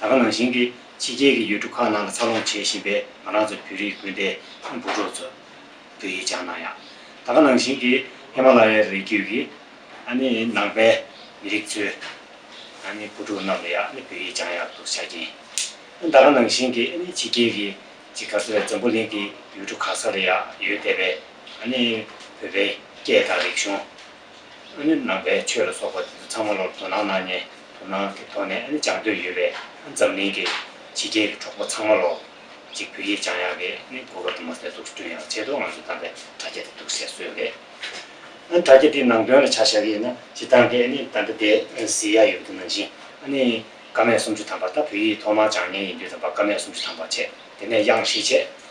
ད་ག་ནང་བཞིན་གྱི་ཕྱི་རྒྱལ་གྱི་ཡུལ་གྲུ་ཁག་ནང་ལ་འཚར་ལོངས་བྱེད་བཞིན་པའི་ང་རང་ཚོ་བོད་རིགས་སྤུན་ཟླའི་འབུ་གྲོགས་ཚོ། འདུ་ཡིས་སྦྱང་ན་ཡང། ད་ག་ནང་བཞིན་གྱི་ཧེ་མ་ལ་ཡའི་རི་རྒྱུད་ཀྱི། ཨ་ནི་ནང་པའི་མི་རིགས་ཚོའི། ཨ་ནི་བུ་ཕྲུག་རྣམས་ལ་ཡང་ཨ་ནི་བོད་ཡིག་སྦྱང་ཡག་ཏུ་བྱ་གྱིན། ཨ་ད་ག་ནང་བཞིན་གྱི་ཨ་ནི་ཕྱི་རྒྱལ་གྱི་ཇི་ག་ཚོའི་འཛམ་བུ་གླིང་གི་ཡུལ་གྲུ་ཁག་ས་ལ་ཡང་ཡོད་བསྡད་པའི་ཨ་ནི་བོད་པའི་སྐད་དང་རིག་གཞུང། ནི་ནང་པའི་ཆོས་ལ་སོགས་པ་དེ་ཚོ་ཚང་མ་ལོར་དོ་སྣང་གནང་ནས་དོ་སྣང་གི་ཐོག་ནས་སྦྱང་འདོད་ཡོད་པའི་འཛམ་གླིང་གི་ཕྱི་རྒྱལ་གྱི་གྲོགས་པོ་ཚང་མ་ལོར་གཅིག་བོད་ཡིག་སྦྱང་ཡག་གི་ནི་གོ་སྐབས་དུ་མ་ཟད་འཛུགས་སྐྲུན་ཡང་བྱས་འདུག་ང་ཚོས་བདམས་པའི་དྲ་རྒྱ་དེ་འདུག་ཟེར་སྲོལ་ལས། དྲ་རྒྱ་དེའི་ནང་དོན་ལ་ཆ་བཞག་གི་ཡིན་ན་སྤྱི་བཏང་གི་ནི་ད་ལྟ་དེ་ཟེར་ཡག་ཡོད་འདུག་ནང་བཞིན་ནི་ཀ་མད་སུམ་ཅུ་ཐམ་པ་ད་བོད་ཡིག་ཐོག་མར་སྦྱང་མྱངས་ཡིན་དུས་ད་བར་ཀ་མད་སུམ་ཅུ་ཐམ་པ་བྱས་དེ་ནས་དབྱངས་བཞི་བྱས